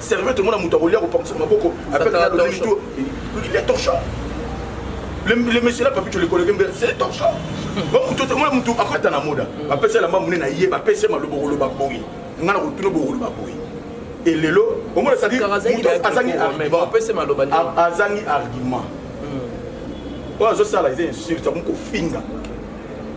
Sérieux tomona moto akolia kopangusa maboko avec la lobeli tout il est torchon le, le monsieur là papi tu le connais bien c'est le torchon ba moto tomona moto akata na moda ba pesa la mamu na ye ba pesa malobo ko loba boyi ngana ko tuno boko loba boyi et lelo omona ça dit moto azangi argument pesa maloba azangi argument oyo azosala eza insulte akomi kofinga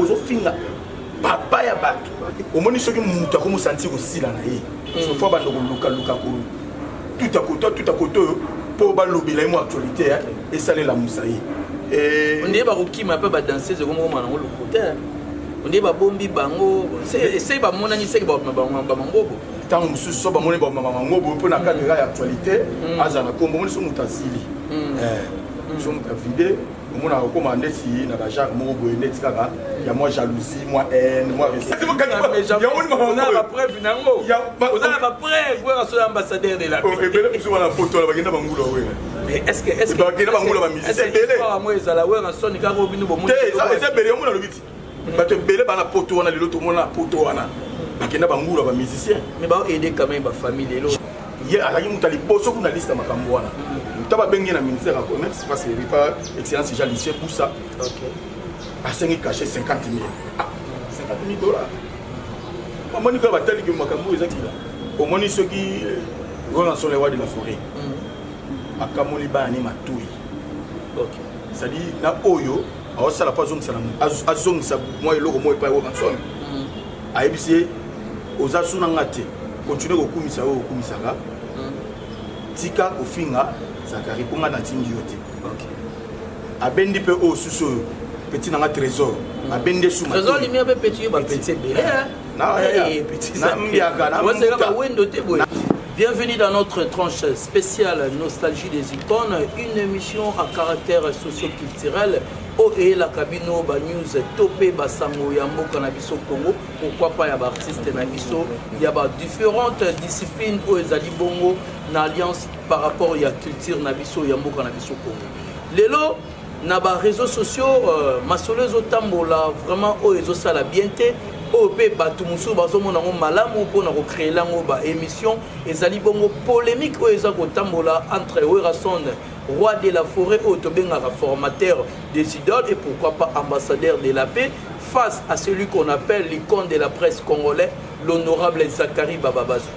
ozo finga papa ya bato omoni soki moto akomi osanti kosila na ye sofo banda kolukaluka tuta koto tuta koto oyo mpo balobela ye mo actualité esalela mosa ye eh, ondeye bakokima mpe badanseuse ekomokoma nango lokuta ondeye babombi bango esei bamonani seke bamangobo ntango mosusu so bamoni bamama mangobo mpo na kadera ya actualité mm. azala na kombo moni so moto asili mm. eh, so moto avide omonaka okoma ndeti na ba genre moko boye ndeti kaka ya mwa jalousie mwa haine mwa ambassadeur de la oh, ebele biso wana poto na bakenda bangula wena bakenda bangula bamisisebele ezala wera soni kaka obino bomoeza ebele yango nalobi ti bato ebele bana poto wana lelo tomona poto wana bakenda bangula ba musicien mais bao aide quand même ba famille lelo ye azalaki moto ya liboso kuna liste ya makambo wana ta babenge na ministère ya commerce parce que epa excellence jean lucien busa asengi cache 50 mille 50 ah, mille dollar omoni kaka batali ke makambo oyo eza kila omoni soki wana euh, solewa de la forêt mm. akamoli bana ni matoi c'est-à-dire na oyo aosala mpo azongisa na azongisa mwa eloko moko epai rokanson mm. ayebisi ye oza suna nga te continue kokumisa oyo okumisaka mm. tika kofinga zakari mpo nga natindi yo te abendi mpe oyo susu oyo peti na nga trésor mm. abendi esuma Bienvenue dans notre tranche spéciale Nostalgie des icônes, une émission à caractère socio-culturel oyo eyelaka bino banews to mpe basango ya mboka na biso congo pourkui pas ya baartiste na biso ya badifférente discipline oyo ezali bongo na alliance par rapport ya culture na biso ya mboka na biso congo lelo na ba réseaux sociaux euh, masolo ezotambola vraiment oyo ezosala bien te oyo mpe bato mosusu bazomona yango malamu mpona kocreele yango baémission ezali bongo polémique oyo eza kotambola entre werrason roi de la forêt oyo tobengaka formateur des idoles et pourquoi pas ambassadeur de la paix face à celui qu'on appelle l'icône de la presse congolais l'honorable zacharie bababazou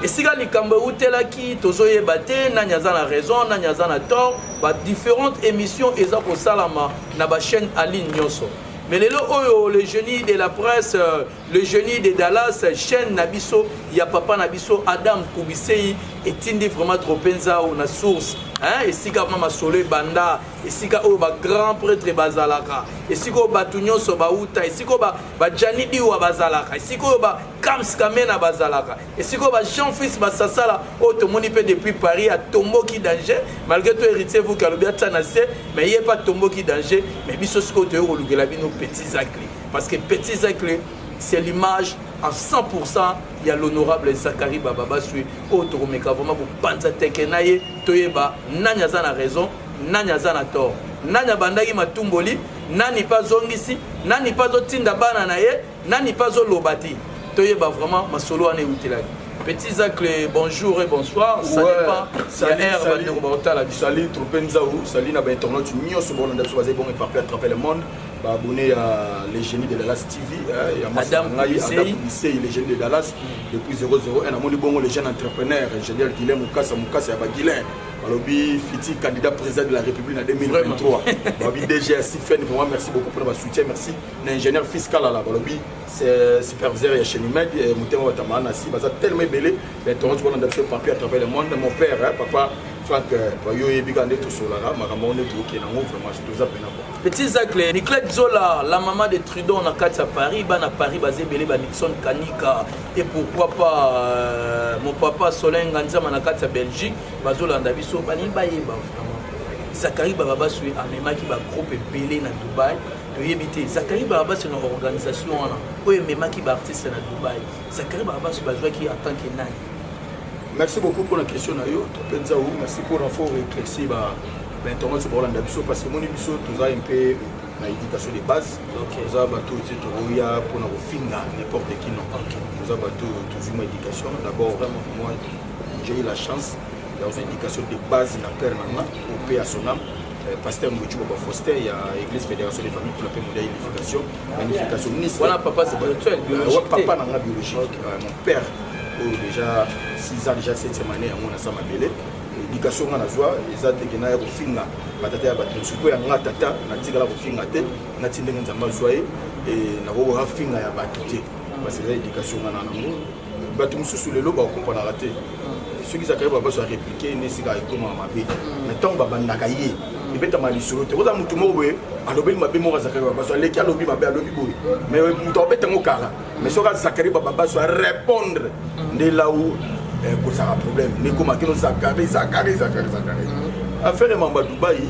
esika likambo eutelaki tozoyeba te nani aza na raison nani aza na tort ba différentes émissions eza kosalama na bachaîne aligne nyonso mais lelo oyo le génie de la presse euh, le génie de dallas chaîne na biso ya papa na biso adam kubisei etindi vraiment trop mpenza na source hein? esika ma masolo ebanda esika oyo bagrand prêtre bazalaka esika oyo bato nyonso bauta esika oyo bajani ba diwa bazalaka esika oyo Kams Kamena bazalaka esiko ba Jean Fils Basasala oyo tomoni mpe depuis Paris atomboki danger malgré tout héritier vuki alobi atia na se mais ye mpe atomboki danger mais biso sikoyo toyei kolukela bino petit zacle parce que petit zacle c'est l'image en 100% ya l'honorable Zachary Baba Basui oyo tokomeka vraiment kopanza teke na ye toyeba nani aza na raison nani aza na tort nani abandaki matumboli nani mpe azongisi nani mpe azotinda bana na ye Nani pe azo loba te toyeba vraiment masolo wana ewutelaki. Petit Zacle, bonjour et bonsoir. Ça ouais. dépend. Salut, ya salut. Bandeko baotala biso. Salut Trope Nzaou, salut na ba internautes nyonso bon na biso bazali bon éparpillé à travers le monde. Ba abonné à les génies de Dallas TV, eh, ya Adam Ngai, Adam Bissey, les génies de Dallas depuis 00 et na moni bongo les jeunes entrepreneurs, ingénieur Guilain Mukasa Mukasa ya ba Guilain. balobi fiti candidat président de la république na 2023 balobi dg ya sifen vraiment merci beaucoup mpona basoutien merci na ingénieur fils kalala balobi superviseur ya chenimed eh, motema batama na si baza tellement ebele mais tongo ti kolanda biso papier à travers le monde mon père eh, papa frank eh, yo oyebi kaka nde tosolaka makambo yango nde tookee nango vraiment toza mpena bo petit zacle niclet zola la maman de trudon na kati ya paris bana paris baza ebele ba nixon kanika et pourquoi pas euh, mon papa solenga nzama na kati ya belgique bazolanda biso balingi bayeba vraiment zakari bababasue amemaki bagroupe ebele na dubai toyebi te zakari barabasi na organisation wana oyo ememaki baartiste na dubai zakari barabasi bazwaki en tant que nani merci beaucoup mpona question na yo topenza o merci mpona fo réclairci ba bainternet so baolanda biso parce que moni biso toza mpe na éducation de base toza bato oyo te tokoya mpona kofinga n'importe qui non toza bato oyo tozwi mwa éducation d'abord moi j'ai eu la chance dans une éducation de base na père na nga au paix à son âme Eh, pasteur Mbuchu Baba Foster ya Église Fédération des Familles pour la paix modèle unification magnification ministre voilà papa spirituel euh, biologique papa na nga biologique okay. euh, mon père oyo oh, déjà 6 ans déjà 7e année yango na sa mabele éducation nga nazwa eza teke naya kofinga batata ya bato mosusu mpo ya nga tata natikala kofinga te nati ndenge nzambe azwa ye nakokoka finga ya bato te parce que eza éducation nga na nango bato mosusu lelo bakokompanaka te soki zakari babaso ya replike nde esika ekomaka mabe na ntango babandaka ye ebetama lisolo te oza motu moko boye alobeli mabe moko ya zakari babaso aleki alobi mabe alobi boye mais moto akobeta yango kala mais soki azakari bababaso arépondre nde lau eh, kozaka problème nde ekoma kino zakari zakari zakari zakari affaire ya mamba dubai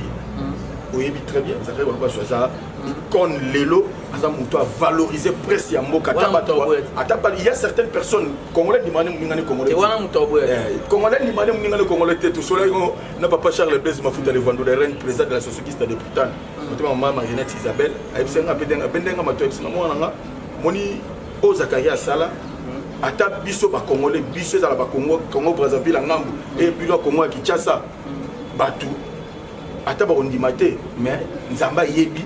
oyebi très bien zakari babaso aza icone lelo aza moto a valorise presse ya mboka ata bato ata ba il y a certaines personnes congolais ndimane moninga ne congolais wana moto aboye eh, congolais ndimane moninga ne congolais te tosolaki ngo na papa Charles Blaise Mafuta le Vandu le règne président de la société de Putan motema mama Marinette Isabelle ayebisi nga mpe denga mpe ndenga mato ayebisi nga mwana nga moni oyo Zakaria asala ata biso bakongole biso ezala bakongo congo brazzaville ya ngambo eye bino ya kongo ya kinshasa bato ata bakondima te mais nzambe ayebi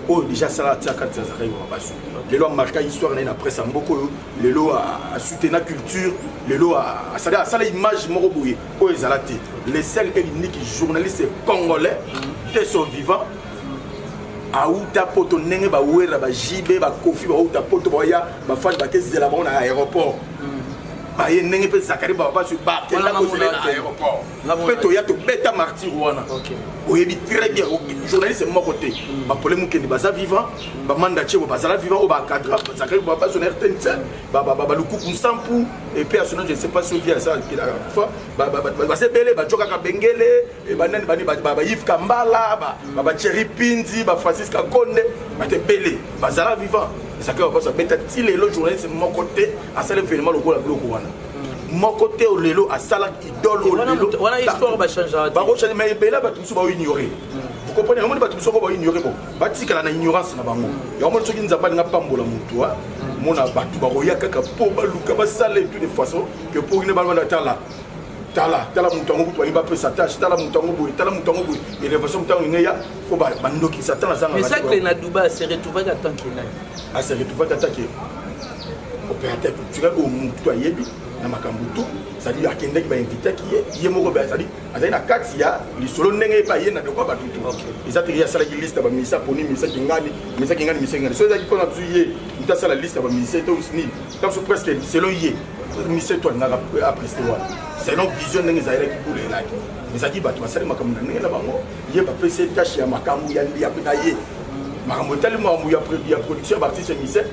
oyo deja asala atia kati ya zakai mabasu lelo amarka histoire na ye na presse ya mboka oyo lelo asutena culture lelo asali asala image moko boye oyo ezala te le sel et l'unique journaliste congolais te son vivant auta poto ndenge bawera bajibe bakofi bauta poto baya bafani bakezela bango na aéroport baye ndenge mpe zakari babasu bakenda kozela na aéroport nga mpe toya tobeta martyr wana oyebi très bien journaliste moko te hmm. bapole mokende baza vivant hmm. bamanda cebo bazala vivant oyo bacadra bazakaki bazona rtnc balukuku nsampu epe asona je ne sais pas soki aza kelaka kufa baza ebele bajokaka bengele banani bani bayive kambala bacheri hmm. pinzi bafrancis kakonde bato ebele bazala vivant ezakaki bapaso abeta ti lelo journaliste moko te asala evenema lokola biloko wana moko te oyo lelo asala idole olelobakochange ma ebele bato mosusu baoignore hmm. comprene yango moni bato mosusu oko baoignore bo batikala na ignorance na bango hmm. yango moni soki nzambe alinga pambola motu ah, hmm. mona bato bakoya kaka mpo baluka basala etu de façon ke mpo kine balobana tala tala tala moto yango kutu balingi bapesa tâche tala moto yango boye tala moto yango boye elevation moto yango ngeya mpo bandokisa ata nazanga mais ça que na dubai se retrouvaki atanke nani a se retrouvaki atanke opérateur culturel oyo mutu ayebi na makambo tu cestadire akendaki bainvitaki ye ye moko cestadire azali na kati ya lisolo ndenge ye mpe aye na dokwa bato tu eza te ye asalaki liste ya baminisa poni minisa kingani minisa kingani minisa kingani so ezalaki mpona bizu ye moto asala liste ya baminisa to nini ntanso presque selon ye minisa to alingaka apreste wana selon vision ndenge ezalaki kula elaki ezalaki bato basali makambo na ndenge na bango ye bapesi ye tâche ya makambo ya ye makambo etali makambo ya production ya baartiste mise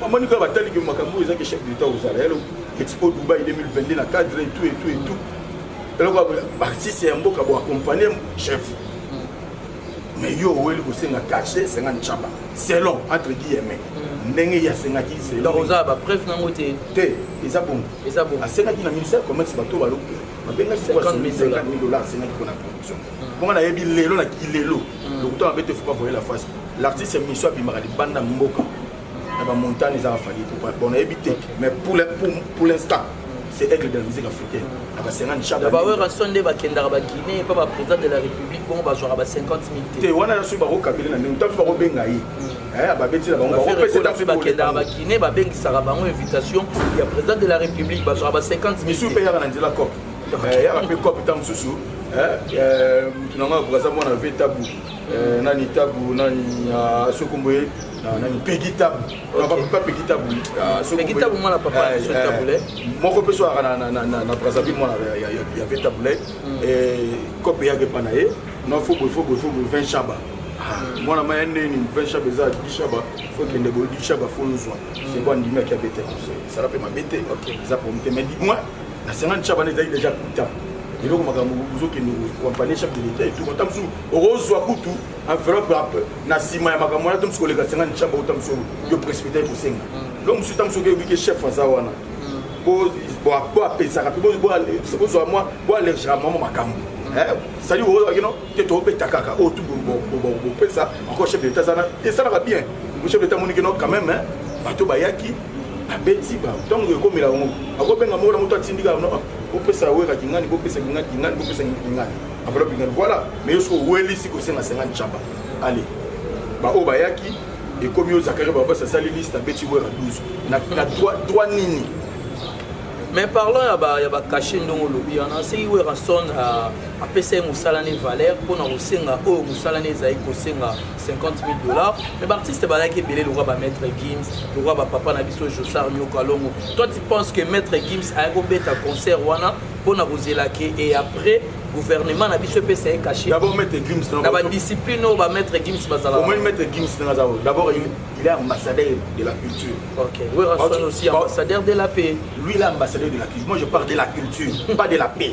Maman Nicolas batali que makambo eza que chef d'État aux Arabes, Expo Dubaï 2022 na cadre et tout et tout et tout. Alors quoi artiste ya mboka bo accompagner chef. Mais yo weli ko senga caché senga nchaba. Selon entre guillemets. Mm. Ndenge ya senga ki c'est donc oza ba preuve nango te. Te, eza bon. Eza bon. Asenga ki na ministère commerce bato ba lokuta. Mabenga 50 000 dollars senga ki pona. bonga nayebi lelo na kilelo mm. lokuta mabe te fopa voye la face l'artiste miso abimaka libanda mboka na bamontagne ezaka fali bon nayebi te mais pour l'instant c'est aigle de la musique africaine na ba 50 chaba bawerrason nde bakendaka baguinée mpo baprésident de la république bongo bazwaka ba 50 mil te te wana nyonso bakokabele na ndenge ntanso bakobenga ye mm. eh, babetela bangobakopesape bakendaka baguinée babengisaka bango invitation ya président de la république bazwaka ba 50 mil misusu mpe yaka na nzela cope yaka mpe cope ntango mosusu moto na ngai akoka aza mwana ve tabu nani tabu nani soki kombo ye nani pegi tabu papa pegi tabu pegi tabu mwana papa so tabule moko mpe so ayaka na brazzaville mwana ya ve tabule cope eyaka epa na ye na fobo fobo fobo 20 shaba mwana ma ya ndeni mpe shaba eza dishaba fo kende boye dishaba fo nzwa seko andimaki abete conseil sala mpe mabe te eza problème te mais dis moi na sangani chabana ezali deja kuta eloko makambo ozokende koampanie chef de l'etat etuka ta mosusu okozwa kutu enveloppe na nsima ya makambo wana to mosusu koleka sangani chaba ota mosusu yo précipité ekosenga lo mosusu ta mosusu okeyoki ke chef aza wana po apesaka mpe bozwa mwa bo allergera mwa mwa makambo sali oyino te tobeta kaka oyo tu bopesa encore chef de l'etat azana esalaka bien chef de l'etat amoniki no quand même bato bayaki abeti ba ntango ekomela bango akobenga moko na moto atindika kopesa wera kingani kopesa kingani kingani kopesa kingani enveloppe kingani voilà mais yo soki owelisi kosenga sengani caba ale baoyo bayaki ekomi yo zakari babasi asali liste abeti wera 12 na, na droit nini mais parlant ya ba ya ba cachet ndongo olobi wana seki werrason apesa ye mosala ne valeur mpo na kosenga oyo mosala ne ezali kosenga 50 000 dollars mais baartiste balaki ebele lokwa ba maître gims lokwa bapapa na biso josar nyoka longo toi tu penses que maître gims aya kobeta concert wana mpo na kozela ke et après gouvernement na biso epesa ye cache na badiscipline oyo bamaître gims bazalaomoni maître gims nanga azao d'abord il est ambassadeur de la culture ok werrason aussi ambassadeur de la paix lui il est ambassadeur de la culture moi je parle de la culture pas de la paix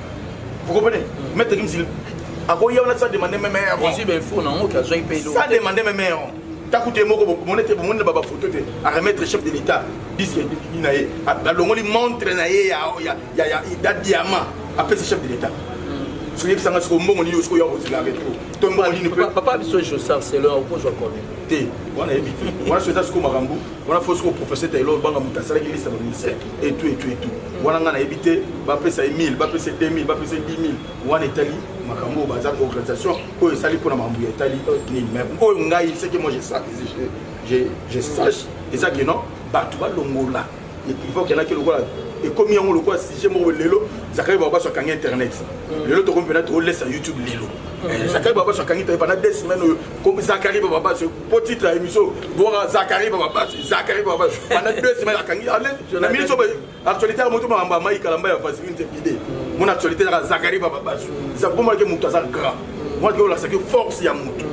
Vous comprenez Maître Gims, akoya wana sa demande meme ya ron. Ozwi befo nango ke azwaki mpe eloko. Sa demande meme ya ron. Taku te moko bomoni te bomoni na ba photo te a remettre chef de l'État disque ni na ye. Alongoli montre na ye ya ya ya ya da diamant apesi chef de l'État. Hmm. Soki bisanga siko mbongo ni yosiko ya kozila retro. To mbongo ni ne peut. Papa biso Jossar Selon okozwa combien? Te. Wana yebi te. Wana soki eza siko makambo. wana fosi ko professeur taylor obanga moto asalaki liste ya baministère etu etu etu wana ngai nayebi te bapesa ye 1000 bapesa ye 2000 bapesa ye 10000 wana etali makambo oyo baza organisation oyo esali mpona makambo ya etali nini mais oyo ngai seke moi je sache eza ke non bato balongola epivo kendaki lokola ekomi yango lokola sujet moko lelo zakari babaso akangi internet lelo tokomi mpena tolesa youtube lelo eh, zakari babaso akangi toyeba na des semaine oyo zakari babaso po titre ya émission bonga zakari bababasi zakari bababasi banda deux semaines akangi ale na minute oyo actualité ya moto makambo ya mai kalamba ya vaseline te bide mon actualité yaka zakari bababasi zakomonake moto aza grand monake olakisaki force ya moto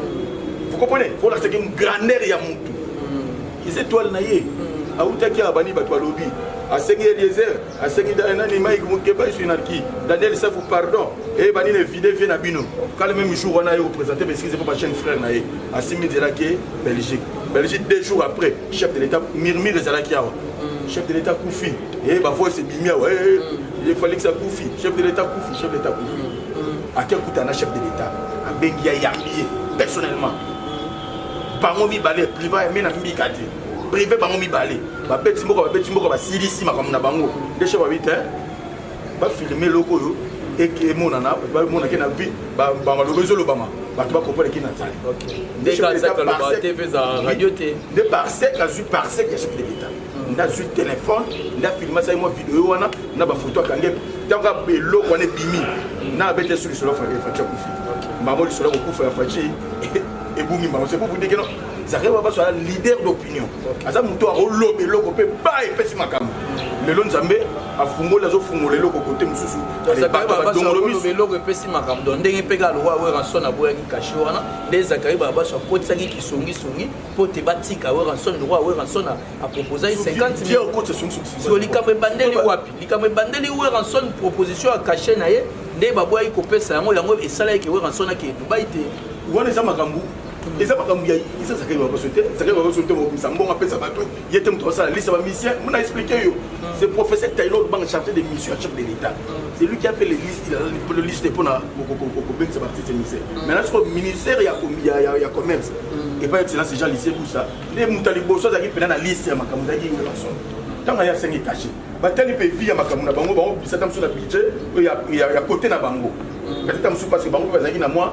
vous comprenez olakisaki grandeur ya moto eza étoile na ye awutaki abandi bato balobi asengi eliezer aseki dale nani mike mokeba eswi na ki daniel safu pardon eyeba nini evide vie na bino kala meme jour wana ye opresente baeskize mpo bachaine frère na ye asimi nzela ke belgique belgique deux jours après chef de l'état murmure ezalaki awa mm. chef de l'état kufi e bavoice ebimi awa efalix akufi chef de l'état kufi chef de l'état kufi mm. mm. ake akuta na chef de l'état abengi ya yambi ye personnellement bango mibale priva me na mbika te prive bango mibale babeti mboka babeti mboka basilisi makambo na bango ndeshe babi te bafilme eloko oyo emonana bamonake na vi bamaloba ezolobama bato bakompona eki na nzali nde parsec azwi parsec ya chef de l'etat hmm. nde azwi telefone nde afilme asali mwa video wana na bafoto akange ntango eloko wana ebimi hmm. na abete so lisolo ya faci akufi mbango lisolo ya kokufa ya faci ebumi mbango se kufu ndekeno zakari babaso aza leader d'opinion aza moto akoloba eloko mpe ba epesi makambo lelo nzambe afungoli azofungola eloko kote mosusu eloko epesi makambo don ndenge mpe kaka lokola weranson aboyaki kashe wana nde zakari babaso akotisaki kisongisongi mpo te batika weranson lokola weranson aproposaki 50 likambo ebandeli wapi likambo ebandeli weranson proposition ya kashe na ye nde baboyaki kopesa yango yango esalaki ke weranson akee dubai te wana eza makambo eza makambo ya eza zakeli bakoso te zakeli bakoso te mobimisa mbongo apesa bato ye te moto asala lisa bamisien mona explike yo c'est professeur taylor banga chargé de mission ya chef de l'état c'est lui qui a fait le liste le liste mpona kobengisa baartiste misien maintenant siko ministère ya commerce epai excellence jean lycée busa nde moto ya liboso azalaki mpena na liste ya makambo ezalaki ngelason ntango aye asengi kashe batali mpe vi ya makambo na bango bango bisata mosusu na budget ya kote na bango kasi ta mosusu parce bango mpe bazalaki na mwa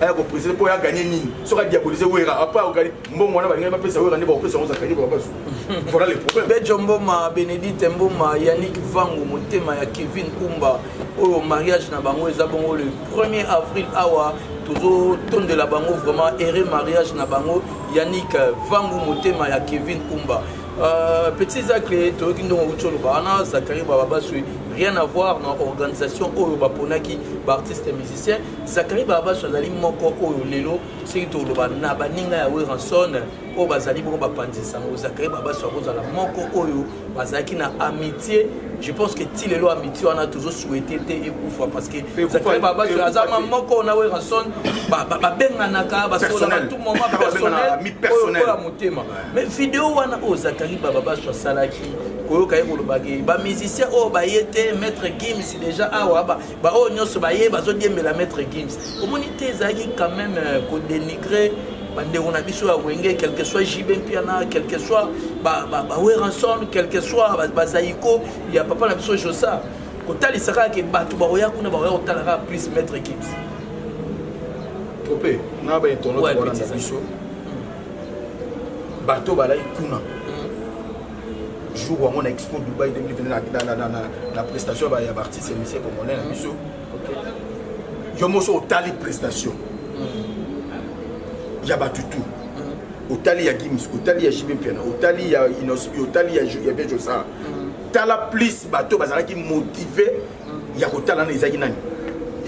aya ko presenter po ya gagner nini soki a diaboliser wera après a gagner mbongo wana balingi ba pesa wera nde ba pesa ngo zakani ba basu voilà le problème Bejo Mboma Benedicte Mboma Yannick Vangu motema ya Kevin Kumba oyo mariage na bango eza bongo le 1er avril awa tozo tondela bango vraiment heureux mariage na bango Yannick Vangu motema ya Kevin Kumba Euh, petit zacle toyoki ndongo okuti oloba wana zakari bababaswi rien à voir na organisation oyo baponaki baartiste musicien Zachary Barbasu azali moko oyo lelo soki toloba na baninga ya Weranson oyo bazali boko bapanzi nsango Zachary Barbasu akozala moko oyo bazalaki na amitié je pense que ti lelo amitié wana tozo souhaité te ekufa parce que Zachary Barbasu aza ma moko na Weranson babenganaka basolaka tout moment personnel oyo ya motema mais video wana oyo Zachary Barbasu asalaki koyoka ye kolobaki bamusicien oyo baye te maître gims déjà awa baoyo nyonso baye bazodiembela maître gims omoni te ezalaki quand même euh, kodenigre bandeko na biso ya wenge quelque soit jb mpiana quelque soit baweranson quelque soit bazaiko ya papa na biso josa kotalisa kaka ke bato bakoya kuna bakoya kotala kaka plus maître gims tope na bainternet wana na biso bato balaki kuna jour yango na expo dubai 2020 na prestation ya baartiste ya musicien congolais na biso yo moso otali prestation mm. ya batutu mm. otali ya gims otali ya jb mpiana otali ya inos otali ya vejosar mm. tala plus bato bazalaki motive ya kotala na ezalaki nani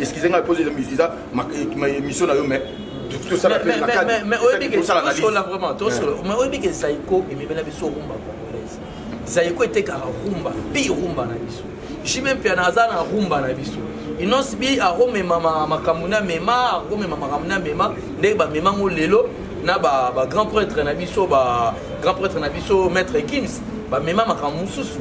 excuse ngai pose eza émission na yo mais tosala pe na cadre mais oyebi que tosala vraiment tosala mais oyebi que Zaiko ememela biso rumba congolaise Zaiko etekaka rumba pi rumba na biso jime mpe naza na rumba na biso inonce bi akomema makambo na mema akomema makambo na mema ndenge bamema ngo lelo na bagrand prêtre na biso bagrand prêtre na biso maître kims bamema makambo mosusu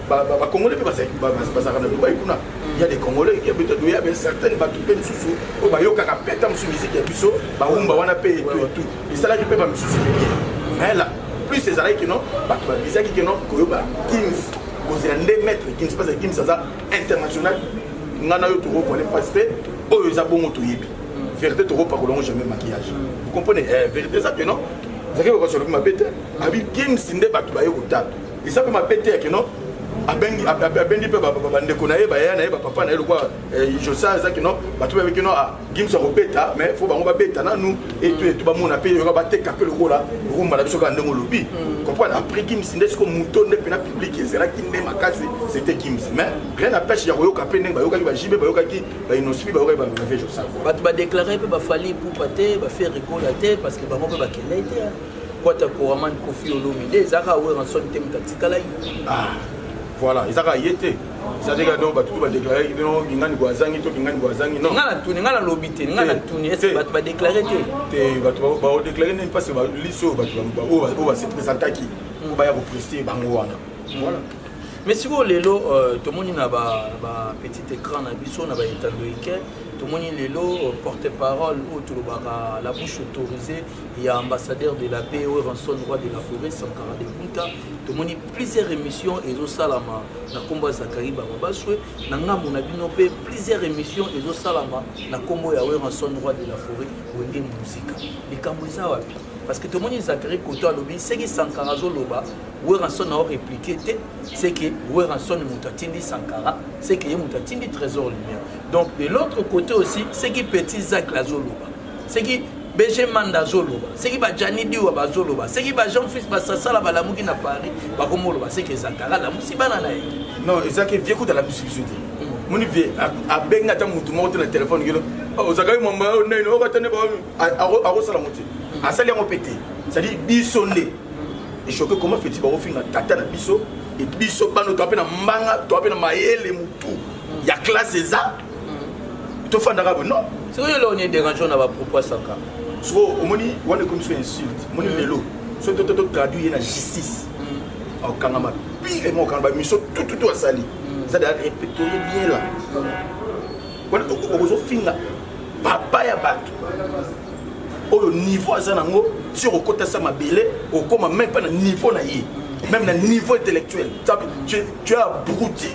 ba congolais mpe bazalaki bazalaka na dubai kuna ya des congolais ya beta doya mais certaine bato mpe mosusu oyo bayokaka mpe ta mosusu miziki ya biso bawumba wana mpe etu etu esalaki mpe bamisusu ebele mais la plus ezalaki kino bato babizaki kino koyoba kings kozela nde maître kings mpasa kings aza international ngai na yo tokokoale mpasi mpe oyo eza bongo toyebi vérité tokopakola yango jamais maquillage vous comprenez eh, vérité eza kino zaki kokosoloki mabe te abi kings nde bato baye kotata eza mpe mabe te yake no abengi abendi mpe bandeko na ye baya na ye bapapa na ye lokola eh, josa eza kino bato bayebi kino ah, gimsa kobeta mais fo bango babeta nanu etu etu bamona mpe yoka bateka mpe lokola rumba na biso kaka ndenge olobi mm. comprendre après gimsi nde siko moto nde mpena publike ezalaki nde makasi c'était gimsi mais rien apêche ya koyoka mpe ndenge bayokaki bajibe bayokaki bainospi bayokaki bavie josa bato badeklare mpe bafali pupa te bafe rigola te parce que bango mpe bakendai te kwata koraman kofi olomide ezalaka weranson te moto atikalaki ah, voilà ezalaka ye te sadeka donc bato tu badeklare bino kingani ko azangi to kingani ko azangi non nga na tuni nga na lobi te nga na tuni est ce que bato badeklare te te bato baodeklare nini parce que liste oyo bato oyo base présentaki oyo baya kopreste bango wana voilà mais sikoyo lelo euh, tomoni na bapetit écran na biso na baetando eke tomoni lelo euh, porte parole oyo tolobaka la bouche autorisée ya ambassadeur de la paix weranson roi de la forêt sankara de kunta tomoni plusieurs émissions ezosalama na nkombo ya zakari bababaswe na ngambo na bino mpe plusieurs émissions ezosalama na nkombo ya weranson roi de la forêt wenge muzika likambo eza wapi parce que tomoni zakari koto alobi seki sankara azoloba weranson ao répliqué te seke weranson moto atindi sankara seke ye moto atindi trésor lumière donc de l'autre côté aussi seki petit zacle azoloba seki bg manda azoloba seki bajani diwa bazoloba seki bajean fils basasala balamuki na paris bakomoloba seki ezakara alamusi bana na ye non ezaki vie kuta alamusi biso te hmm. moni vie abengi ata motu moko te na telefone kilo oh, ozakaki mama oh, nini okatane oh, akosala ngo te hmm. asali yango mpe te cestadire biso nde echoke comment feti bakofinga tata na biso biso bano toa mpe na mbanga toa mpe na mayele motu ya classe eza tofandaka boye non soki eloko nini derangeant na bapropos asaka soko omoni wana ekomi so insulte omoni mm. lelo so toto totraduire ye na justice mm. akokangama pire mo okanga bamiso tututu asali mm. eza da repetorie bien la wana okozofinga papa ya bato oyo niveau aza nango ti okokota sa mabele okoma meme mpe na niveau na ye meme na niveau intellectuel tu as abruti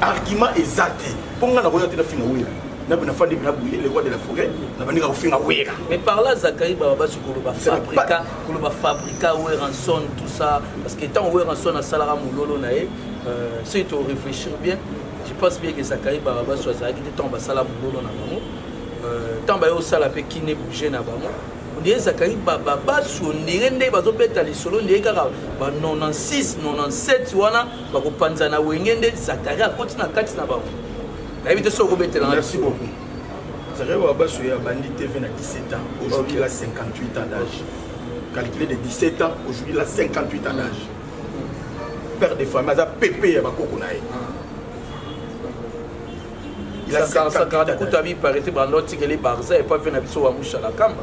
argument eza te mpo ngai nakoya te nafinga wera nabe nafandi na buye le roi de la forêt nabandika kofinga wera mais par là zakari baba basi koloba fabrika koloba fabrika weranson tout ça parce que ntango weranson asalaka mololo na ye euh, soki to réfléchir bien je pense bien que zakari baba basi azalaki te ntango basala mololo na bango euh, ntango baye osala mpe kine bouge na bango ndenge zakari baba baso ndenge nde bazobeta lisolo ndenge kaka ba 96 97 wana bakopanza na wenge nde zakari akoti na kati na bango nayebi te soki okobetela merci beaucoup zakari wabaso ya bandi tv na 17 ans aujourd'hui la 58 ans d'âge calculé de 17 ans aujourd'hui la 58 ans d'âge père de famille aza pepe ya bakoko na ye kutu abi parete banda otikeli barza epa mpe na biso wamushala kamba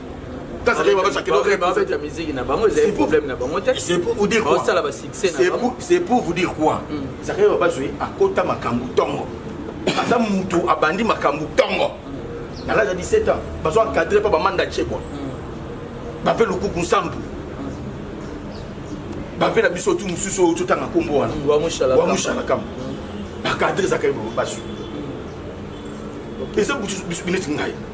Kasa keba basa keba keba basa ya musique na bango ezali problème na bango te. C'est pour vous dire quoi? Basala ba succès na bango. C'est pour vous dire quoi? Kasa keba basa akota makambo tongo. Aza mutu abandi makambo tongo. Na l'âge de 17 ans, bazo encadrer pa ba manda chebwa. Mm. Ba pe lukuku nsambu. Ba pe na biso tu mususu oyo totanga kombo wana. Wa mushala. Wa mushala kam. Ba cadrer zakaibo basa. Eza butu bisu bineti ngai.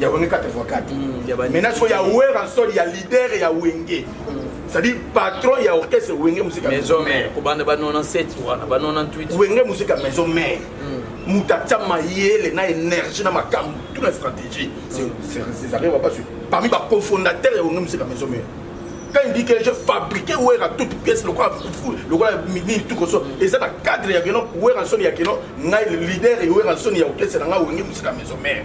ya wenge 84 mm, maintenant sikoyo ya wera nsoli ya leader ya wenge c'est-à-dire patron ya orchestre wenge musika maison mère kobanda ba 97 wana ba 98 wenge musika maison mère mm. moto atya mayele na énergie na makambo tout na stratégie césarien mm. wapasui parmi bacofondateur ya wenge musika maison mère quand il dit que je fabriquais wera toute pièce lokola fufu lokola nini tout koso eza na cadre ya keno wera nsoni ya keno ngai leader ya wera nsoni ya orchestre na ngai wenge musika maison mère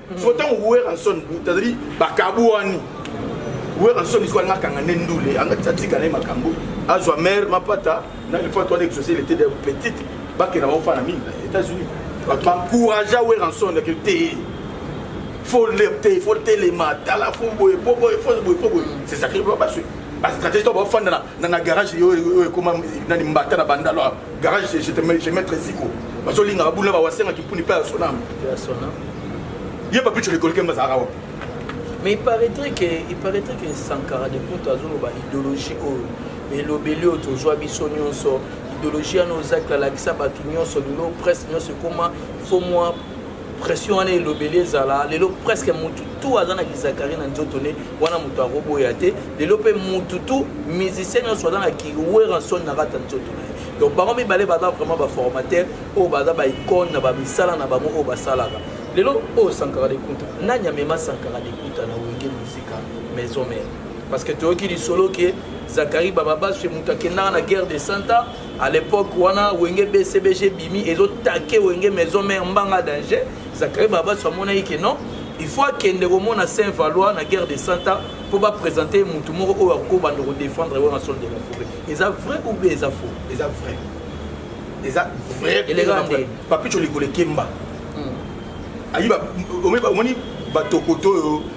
so ntango weranson tazali bakabuani weranson iso alinga akanga nde ndule atika na ye makambo azwa mare mapata na lefatu wana exauce lete de petite bakenda baofana mingi na états-unis bato bancouragea weranson eke te fo lepte fo telema tala fo boye fo boye fo boye fo boye c'est sacré basue bastratégie to bafanda na garage oyo ekoma nani mbata na bandalo Garage chez te mets maître Ziko. Bazo linga abula ba wasenga kipuni pa sona. Ya sona. Ye papi tu le colquer mazara wa. Mais il paraîtrait que il paraîtrait que Sankara de Poto azolo ba idéologie oyo. Mais lobeli oyo tozwa biso nyonso idéologie wana ozakla lakisa bato nyonso lelo presse nyonso ekoma fo mwa pression wana elobeli ezala lelo presque mutu tu aza na kizakari na nzoto ne wana moto akoboya te lelo mpe mutu tu musicien nyonso aza na kiweranson na kati ya nzoto na ye donc bango mibale baza vraiment baformateur oyo baza baicone na bamisala na bango oyo basalaka lelo oyo sankara lekuta nani amema sankara lekuta na wenge musika maison mare parce que toyoki lisolo ke zakari bababashe moto akendaka na guerre de santa à l'époque wana wenge bcbg ebimi ezo take wenge maison mère mbanga danger zakari babaso amonaki ke non il faut akende komona saint valois na guerre de santa mpo bapresente motu moko oyo akoki obanda kodefendre wana sol de la forêt eza vrai ou bien eza faux eza vrai eza vrai eleka nde papicho likolo ekemba hmm. ayiba omoni batokoto oyo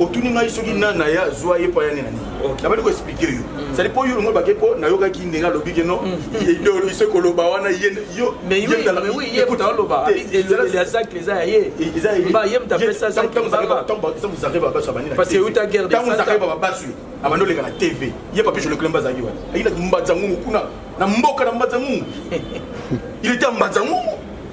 otuni ngai soki nani na ye azwa ye mpo aya nde na nini nabandi koexplike yo sali mpo yo longo bake mpo nayokaki ndenge alobi ke no idolise koloba wana yeyoeutagerdebabaswi abandi oleka na tv ye papi joleklem bazalaki wana ayinaki mbanza ngungu kuna na mboka na mbanza ngungu il était mbanza ngungu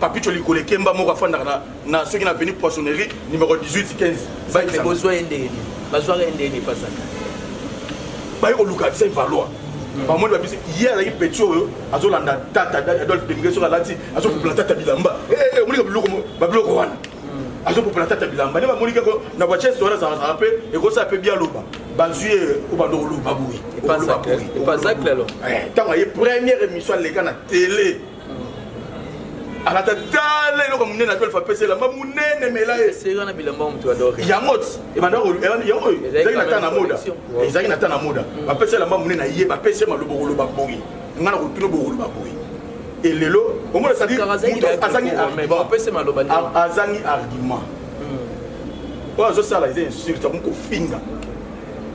Papito Likole Kemba moko afandaka na, na soki na avenue Poissonnerie numéro 18 15 bike na bozwa ye ndenge nini bazwaka ye ndenge nini pasaka baye koluka se valoir hmm. bamoni babisi ye azalaki peti oyo azolanda tata adolphe demige soki alati azopupula tata bilamba eh, eh, eh, omonike biloko babiloko wana hmm. azopupula tata bilamba nde bamonike na bachese wana azalazala mpe ekosala mpe bialoba bazwi ye obanda koloba boye ntango aye première émission aleka na tele alata tala eloko monene ato efa pesa elamba monene mela ye yango ebandazalaki na ta na moda ezalaki na ta na moda bapesa elamba monene aye bapesa maloba koloba boye ngai na kotuna bokoloba boye elelo omona azangi argument oyo azosala eza insulte akomi kofinga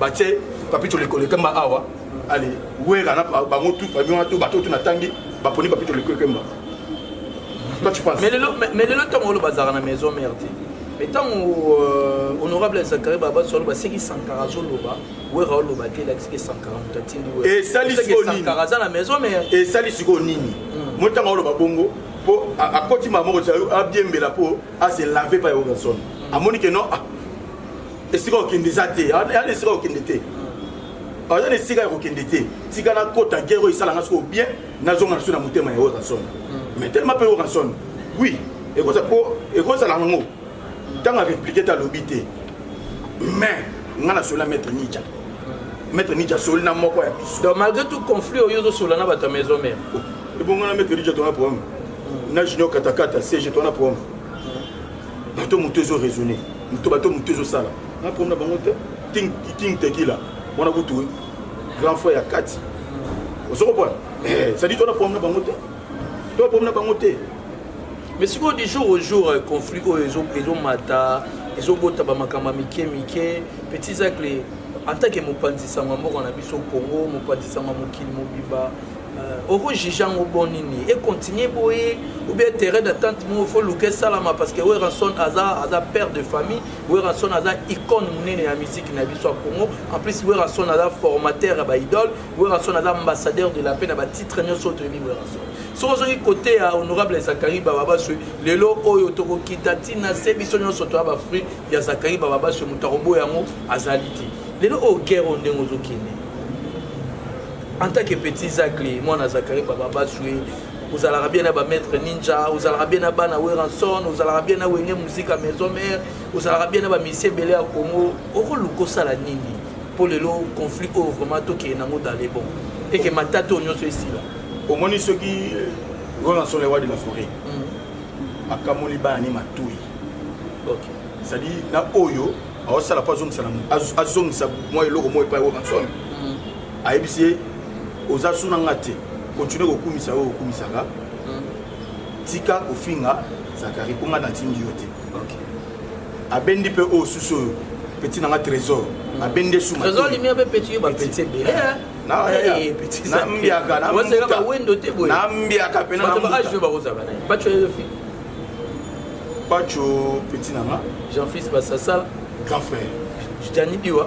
batie papito lekolekemba awa ale wera na bango tu famille wana to bato tu natangi baponi papito lekolekemba toi tu penses mais lelo mais lelo ntango olo bazalaka na maison mère te mais ntango euh, honorable zakari babaso aloba seki sankara azoloba wera oloba te elakisiki sankara moto atindi werasankara aza na maison mère esali sikoyo nini hmm. mo ntango oloba bongo mpo akoti mamoko abiembela mpo ase lave pa ya werrason hmm. amoni ke non ah, esika okende eza te eza na esika okende te aza na esika ya kokende te tika nakota gere oyo esalanga soko bien nazonga na so na motema ya oranson mais mm. telema mpe oranson oui ekozala yango ntango areplike te alobi te mais ngai nasoli na maître nicha maître nicha asoli na moko ya biso donc malgré tout conflit oyo ozosola na bato ya maison mare oh, ebongo na maître nicha tona problème mm. na junior katakata cg tona problème bato moto ezo raisonne moto bato moto ezosala na problème na bango te king, king tekila mwana kutu grand frère ya kati ozo comprendre eh, sadi to na problème na bango te to na problème na bango te mais sikoyo du jour au jour euh, conflit oyo ezomata ezobota bamakambo ya mike mike petit zacle en tant que mopanzi sango ya mboka na biso congo mopanzi sango ya mokili mobimba oko juge yango bon nini e continuer boye ou bien terrain d'attente moko faut luka esalama parce que werrason aza aza père de famille werrason aza icône monene ya musique na biso ya congo en plus werrason aza formateur ya baidole werrason aza ambassadeur de la paix na batitre nyonso oyo toyebi werrason soki ozongi kote ya honorable zakari bababaswe lelo oyo tokokita ntina se biso nyonso toya bafruit ya zakari bababaswe moto akoboya yango azali te lelo oyo guerre oyo ndenge ozokende En tant que petit Zakli, mwana Zakari Baba Baswe, ozalaka bien na ba maître ninja ozalaka bien na bana weranson ozalaka bien na wenge musika maison mère ozalaka bien na ba misie ebele ya congo okoluka osala nini mpo lelo conflit oyo vraiment tokende nango dans le bon eke matata oyo nyonso esila omoni soki weranson le roi de la forêt hmm. akamoli bana ni matui ezali na oyo aosala mpo azongisa mwa eloko moko epai weranson ayebisi ye oza suna nga te continue kokumisa oyo okumisaka hmm. tika kofinga zakari mpo nga natindi yo te abendi mpe oyo susu oyo peti na nga trésor hmm. abendi esumaambiaka mpe pacho peti na nga jean fils basasala grand frère jani biwa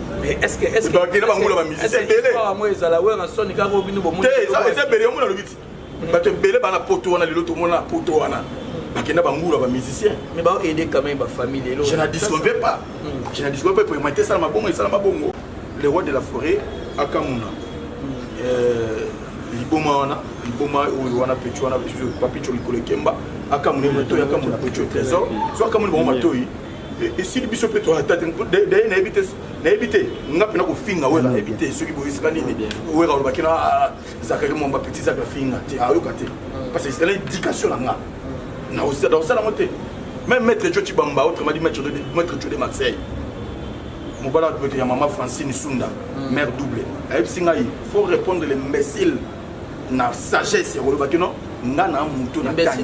bakenda bangula bamizisi ebele eza ebele yango nalobi ti bato ebele bana poto wana lelo tomona na poto wana bakenda bangula bamusicien mais baoaide quand même bafamille lelo je na disconve pas hmm. je na disconve pas poema te esalama bongo esalama bongo le roi de la forêt akamuna hmm. euh, liboma wana liboma oyo wana pecho wana papicho likolo ekemba akamuna moto akamuna pecho trésor so akamuni bango matoyi esili biso mpe toata te daye nayebi te nayebi te nga mpena kofinga wera nayebi te soki boyisika nini wera olobaki na ah, ah, zakari mwamba petit zaka finga te ayoka te parce que ezala éducation na nga nakosala yango te même maître jo cibamba autrement dit maître jo de marseille mobala ya tubete ya mama francine sunda hmm. mère double ayebisi ngai faut répondre l'imbécile na sagesse ya kolobaki no nga na moto na tangi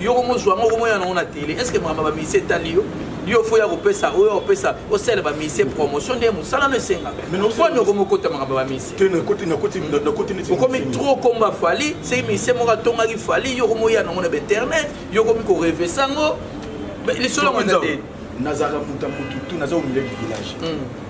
yo komo zwa ngo komo yana ngo na tele est ce que makambo ba musicien etali yo yo fo ya kopesa oyo opesa osala ba musicien promotion nde mosala no esengaka kwani okomi okota makambo ba musicieokomi trop komba fali seki musicien moko atongaki fali yo komo yana ngo na bainternet yo komi korevesa ngo lisolo yango eza te nazalaka moto ya motu tu naza omilai du village hmm.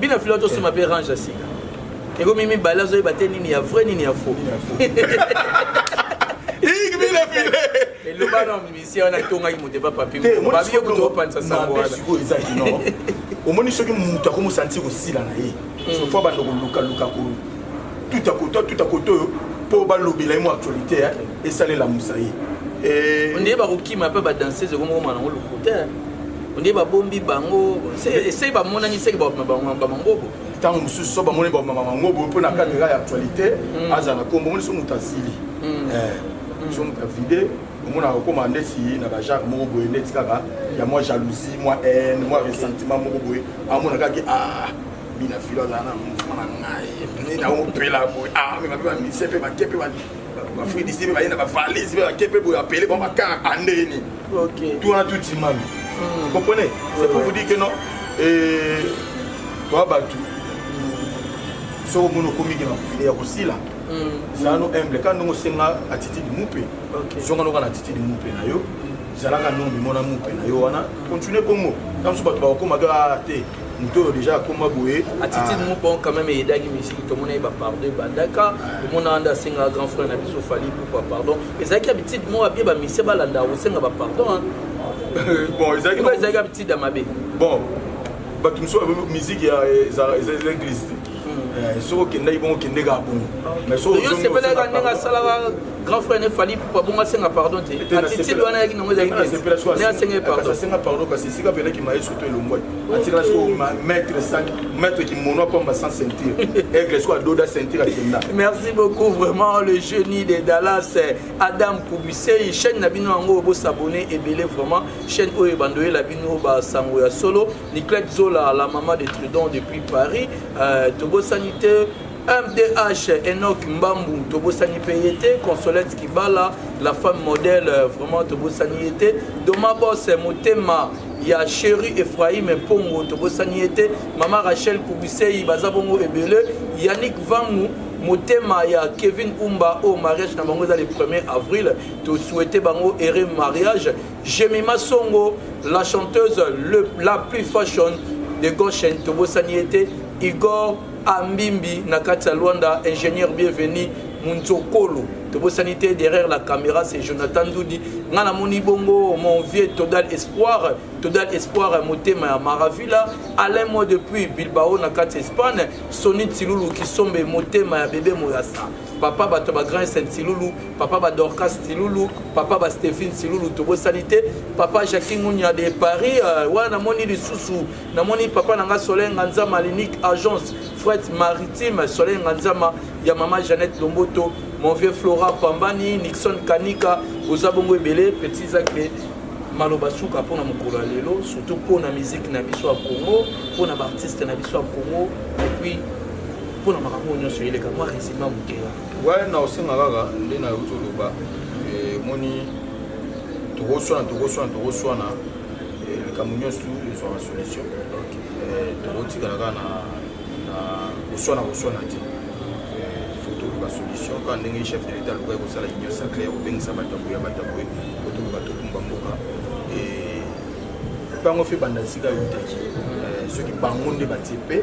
bino filo tosomba mpe range ya sika ekomi mibale azoyeba te nini ya vrai nini ya faux eloba na musicien wana etongaki moto epa papibabi yo kutu opanisa sango wana omoni soki moto akomi osanti kosila na ye hmm. sofo abanda kolukaluka tuta koto tuta koto oyo mpo balobela ye mo actualité esalelamusa ye eh. onde bakokima mpe badanseuse ekomokoma nango lokuta onde babombi bango esei bamonani seke bamangobo ntango mosusu so bamoni bamangobo mpo na cadre ya actualité mm. azala na kombo omoni so moto asili mm. eh, mm. so moto avide omonaka okoma ndeti na bajare moko boye ndeti kaka ya mwa jalousie mwa haine mwa ressentiment moko boye amona kaki ah bina filo azala na mouvement na ngai naopela boye ah me bape bamise mpe bake mpe bafridisi mpe baye na bavalise mpe bake mpe boye apele bango bakar andeni Okay. Tout wana tout timami. Mm. Vous comprenez? C'est pour vous dire que non. Et toi batu. Soko mono komiki na prière ya kosila. Mm. Zano humble quand nous senga attitude mupe. Okay. Zonga noka na attitude mupe na yo. Mm. zalaka nongi mona mupe na yo wana continue bongo ntango mosusu bato bakokoma kaka te moto oyo deja akoma boye attitude ah. moko quand même eyedaki misiki tomona ye bapardon ebandaka tomonaka nde asengaka grand frère na biso fali pourkua pardon ezalaki habitude moko abie bamisie balanda kosenga bapardon bon ezalaki ezalaki habitude ya mabe bon bato mosusu musique ya eza église te Eh, soki okendaki bongo kende kaka bongo yosepelaka ndenge asalaka grand frère ne fali pupa bongo asenga pardon te attitude wana yaki nango ezalaki asenga pardonasenga pardon kasi esika pelaki maye surtout elongwai atikala soko maître maître kimono apamba sans ceinture aigle soko adoda ceinture akenda merci beaucoup vraiment le génie de dallas eh, adam kubisei chaîne na bino yango bosabone ebele vraiment chaîne oyo ebanda oyela bino basango ya solo Niclette Zola, la maman de Trudon depuis Paris, euh, tobosani te MDH, Enoch Mbambu, Tobosani Peyete, Consolette Kibala, la femme modèle, euh, vraiment Tobosani Ete, Doma Boss, Motema, ya Chéri Ephraim Pongo, Tobosani Ete, Mama Rachel Kubisei, Bazabongo Ebele, Yannick Vangu, motema ya kevin umba oyo mariage na bango eza le 1er avril tosouhaite bango heureux mariage Jemima Songo, la chanteuse le, la plus fashion de Goshen, tobosani ye te, Igor Ambimbi na kati ya Luanda, ingénieur bienvenu Munzokolo, tobosani te derrière la caméra c'est Jonathan Ndudi, nga namoni bongo mon vieux Todal Espoir, Todal Espoir motema ya Maravilla, Alain moi depuis Bilbao na kati Espagne, Sony Tsilulu Kisombe motema ya bebe Moyasa. papa bato ya bagrandsen silulu papa badorcas silulu papa bastephine silulu tobosani te papa jacqui ngunia de paris euh, wana namoni lisusu namoni papa na ngai soleil nganzama linique agence fret maritime soleil nganzama ya mama jeannette lomboto mon vieux flora pambani nixon kanika oza bongo ebele petit zakle maloba suka mpo na mokolo ya lelo surtout mpo na miziki na biso ya congo mpo na baartiste na biso ya congo epuis mpo na makambo oyo nyonso eleka mwa resima moke wana na osenga kaka nde na euti oloba emoni eh, tokoswana tokoswana tokoswana eh, likambo nyonso ezwaka solution donc eh, tokotikala kaka na koswana koswana te toluka solution kaka ndenge chef de l'état alukaki kosala union sacré ya kobengisa bato ya boye ya bato ya boye po toluka tokumba mboka mpe yango mpe banda sika eutaki soki bango nde batie mpe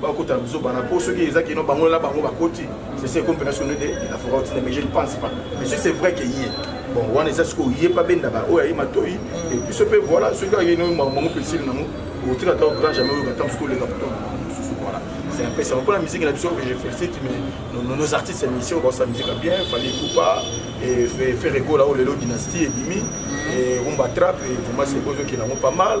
bakota buzoba na po soki eza kino bango na bango bakoti sese ekompena soni de la foka otina mais je ne pense pas mais si c'est vrai que ye bon wana eza sikoyo ye pa benda ba oyo aye matoi e biso mpe voilà soki aye no bango mpe esili nango okotika ata grand jamais oyoka ata mosuki oleka poto mosusu voilà c'est un peu ça mpona musique na biso que je félicite mais nos, nos artistes ya mission baosa musique ya bien fali kupa e ferre gola oyo lelo dynastie ebimi e rumba trap e vraiment c'est oyo ezokela yango pas mal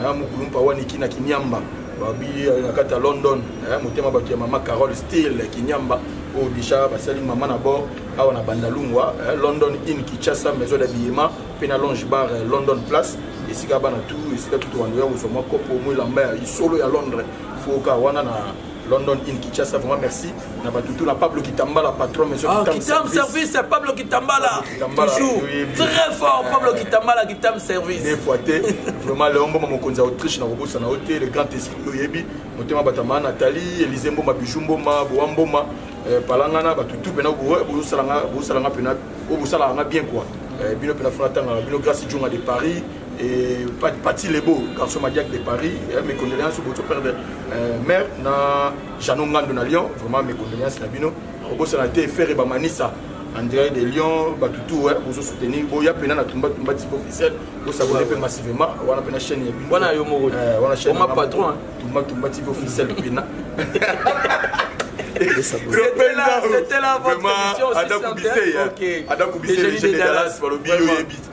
aya mukulumpa waniki na kinyamba babi na kati ya london aya motema bato ya mama carole stil kinyamba oyo deja basali mama na bord awa na bandalungwa london in kichasa maison d'habillement mpe na longe bar london place esika bana tu esika tutu wanda ya kozwa mwa kopo mwa elamba ya isolo ya londres foka wana na London in Kinshasa vraiment merci na batu tout na Pablo Kitambala patron monsieur ah, Kitam service c'est Pablo Kitambala toujours très fort Pablo Kitambala Kitam service des fois te vraiment le homme mokonzi Autriche na kobosa na hotel le grand esprit oyebi motema batama Nathalie Elise Mboma Bijou Mboma Boa Mboma euh, palangana batu tout pena bosala nga bosala nga pena obosala nga bien quoi euh, bino pena fana tanga bino grâce Djonga de Paris Et Pati Lebo, garçon Madiac de Paris, eh, mes condoléances au votre père de euh, mère, na Jeannot Ngando na Lyon, vraiment mes condoléances na bino. Robosa na te, Ferre Bamanissa, en direct de Lyon, Batutu, eh, vous soutenez, bon, y'a pena na tumba tumba type officiel, vous s'abonnez peu massivement, on a pena chaîne y'a bino. Wana yo moro, eh, wana chaîne. On m'a patron, hein. Tumba tumba type officiel pena. C'était là, c'était là votre émission, c'est ça. Adam Koubissé, les jeunes de Dallas, par le bio,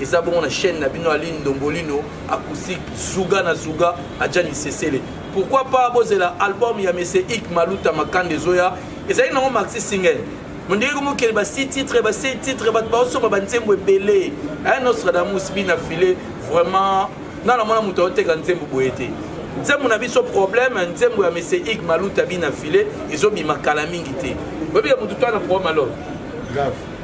eza bongo na chaîne na bino aline ndombolino acoustique zuga na zuga aja lisesele pourquoi pas bozela album ya mese ik maluta makanda ezoya ezali nango maxi single mondenge komokele ba si titre ba se titre bato baosomba banzembo ebele a nostradamus bina file vraiment nga na mwana moto aoteka nzembo boye te nzembo na biso problème nzembo ya mese ik maluta bina file ezobima kala mingi te oyebi ya motu to ana problème alors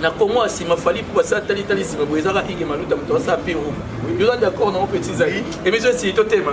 na congo ya nsima fali mpo basala talitali nsima boye ezaka ige maluta moto asala peru yoza d'accord nango petit zali emission esili totema